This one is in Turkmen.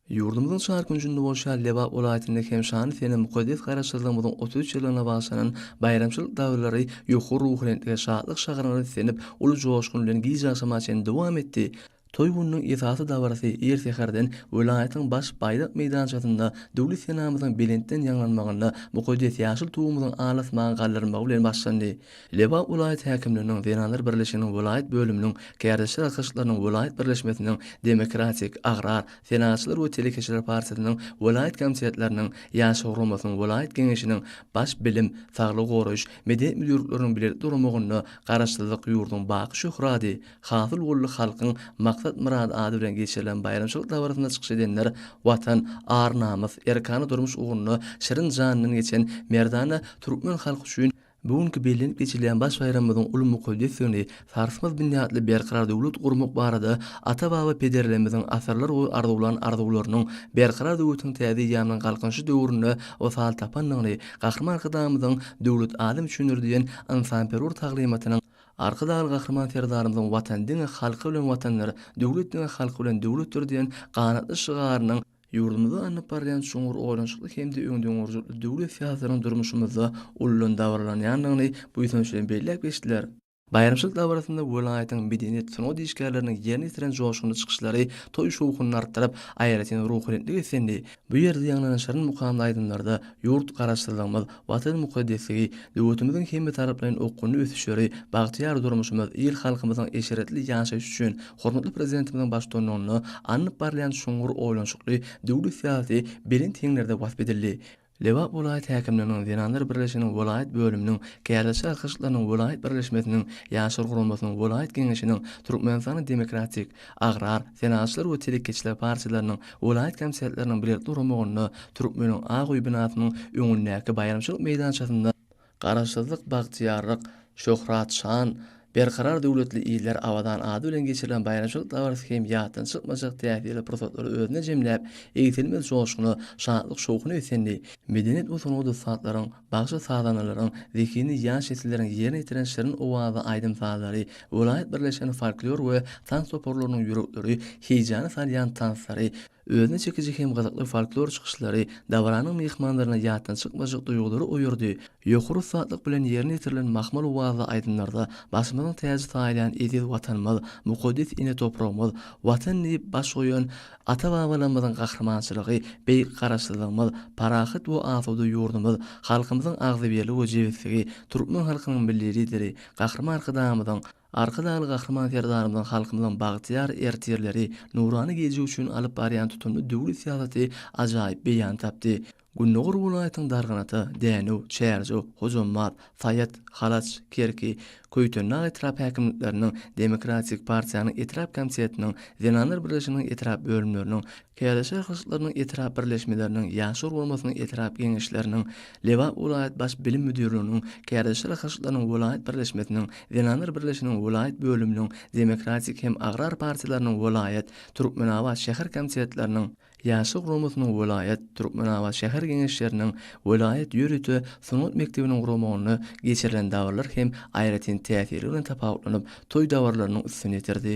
Ýurdumyzyň çar künjünde bolşan Lebap welaýatynda hem şanly sene mukaddes Garaşsyzlygymyzyň otuz üç ýyllygyna baglanan baýramçylyk dabaraly ýokary ruhubelentlige, şatlyk şagalalaryna islenip, uly joşgun bilen gije agşama çenli dowam etdi. Toý gününiň esasy dabarasy ir säherden welaýatyň baş baýdak meýdançasynda Döwlet senamyzyň belentden ýaňlanmagynda mukaddes ýaşyl Tugumyzyň al asmaga galdyrylmagy bilen başlandy. Lebap welaýat häkimliginiň Zenanlar birleşiginiň welaýat bölüminiň, Kärdeşler arkaşyklarynyň welaýat birleşmesiniň, Demokratik, Agrar, Senagatçylar we telekeçiler partiýasynyň welaýat komitetleriniň, Ýaşlar guramasynyň welaýat geňeşiniň, Baş bilim, saglygy goraýyş, medeniýet müdirlikleriniň bilelikde guramagynda Garaşsyzlyk ýurduň baky şöhrady, Hasylgully halkyň maksat-myrady ady bilen geçirilen baýramçylyk dabarasynda çykyş edenler Watan, ar-namys, erkana durmuş ugrunda şirin janyndan geçen merdana türkmen halky üçin bu günki bellenip geçilýän baş baýramymyzyň uly mukaddesdigini, sarsmaz binýatly berkarar döwlet gurmak barada ata-baba pederlerimiziň asyrlar boýy arzuwlan arzuwlarynyň berkarar döwletiň täze eýýamynyň Galkynyşy döwründe wysal tapandygyny, Gahryman Arkadagymyzyň Döwlet adam üçindir! diýen ynsanperwer taglymatynyň Arkadagly Gahryman Serdarymyzyň Watan diňe halky bilen Watandyr, döwlet diňe halky bilen döwletdir diýen ganatly şygarynyň, ýurdumyzda alnyp barylýan çuňňur oýlanyşykly hem-de öňdengörüjilikli döwlet syýasatynyň durmuşymyzda uludan dabaralanýandygyny buýsanç bilen belläp geçdiler. Baýramçylyk dabarasynda welaýatyň medeniýet, sungat işgärleriniň ýerine ýetiren joşgunly çykyşlary toý şowhunyny artdyryp, aýratyn ruhubelentlik esendi, Bu ýerde ýaňlanan şirin mukamly aýdymlarda ýurt Garaşsyzlygymyz, Watan mukaddesligi, döwletimiziň hemmetaraplaýyn okgunly ösüşleri, bagtyýar durmuşymyz, il-halkymyzyň eşretli ýaşaýşy üçin hormatly Prezidentimiziň baştutanlygynda alnyp barylýan çuňňur oýlanyşykly döwlet syýasaty belent heňlerde wasp edildi. Lebap welaýat häkimliginiň Zenanlar birleşiginiň welaýat bölüminiň, Kärdeşi arkaşyklarynyň welaýat birleşmesiniň, Ýaşlar guramasynyň welaýat geňeşiniň, Türkmenistanyň Demokratik, Agrar, senagatçylar we telekeçiler partiýalarynyň welaýat komitetleriniň bilelikde guramagynda Türkmeniň ak öýi binasynyň öňündäki baýramçylyk meýdançasynda Garaşsyzlyk, bagtyýarlyk, şöhrat, şan, Berkarar döwletli iller abadan ady bilen geçirilen baýramçylyk dabarasy hem ýatdan çykmajak täsirli pursatlary özünde jemläp, egsilmez joşguna, şatlyk-şowhuna beslendi. Medeniýet we sungat ussatlaryň, Bagşy sazandalaryň, zehini ýaş nesilleriň ýerine ýetiren şirin owazly aýdym-sazlary, welaýat birleşiginiň folklor we tans toparlarynyň ýürekleri heýjana salýan tanslary, özüne çekiji hem gyzykly folklor çykyşlary dabaranyň myhmanlaryna ýatdan çykmajak duýgulary oýardy. Ýokary ussatlyk bilen ýerine ýetirilen mahmal owazly aýdymlarda başymyzyň täji saýylýan eziz Watanymyz, mukaddes ene topragymyz, Watan diýip baş goýan Ata-babalarymyzyň gahrymançylygy, beýik Garaşsyzlygymyz, parahat we asuda ýurdumyz, halkymyzyň agzybirli we jebisligi, türkmen halkynyň Milli Lideri, Gahryman Arkadagymyzyň, Arkadagly Gahryman Serdarymyzyň halkymyzyň bagtyýar ertirleri, nurana geljegi üçin alyp barýan tutumly döwlet syýasaty ajaýyp beýan tapdy. Gündogar welaýatyň Darganata, Dänew, Çärjew, Hojambaz, Saýat, Halaç, Kerki, Köýtendag etrap häkimlikleriniň, Demokratik partiýanyň etrap komitetiniň, Zenanlar birleşiginiň etrap bölümleriniň, KLŞ ýygyşlarynyň etrap birleşmeleriniň, Ýaşlar guramasynyň etrap geňeşleriniň, Lebap welaýat baş bilim müdirliginiň, KLŞ ýygyşlarynyň welaýat birleşmesiniň, Zenanlar birleşiginiň welaýat bölüminiň, Demokratik hem Agrar partiýalarynyň welaýat, Türkmenabat şäher komitetleriniň, Ýaşlar guramasynyň welaýat, Türkmenabat şäher Geňeşleriniň, welaýat ýörite sungat mekdebiniň guramagynda geçirilen dabaralar hem aýratyn täsiri bilen tapawutlanyp, toý dabaralarynyň üstüni ýetirdi.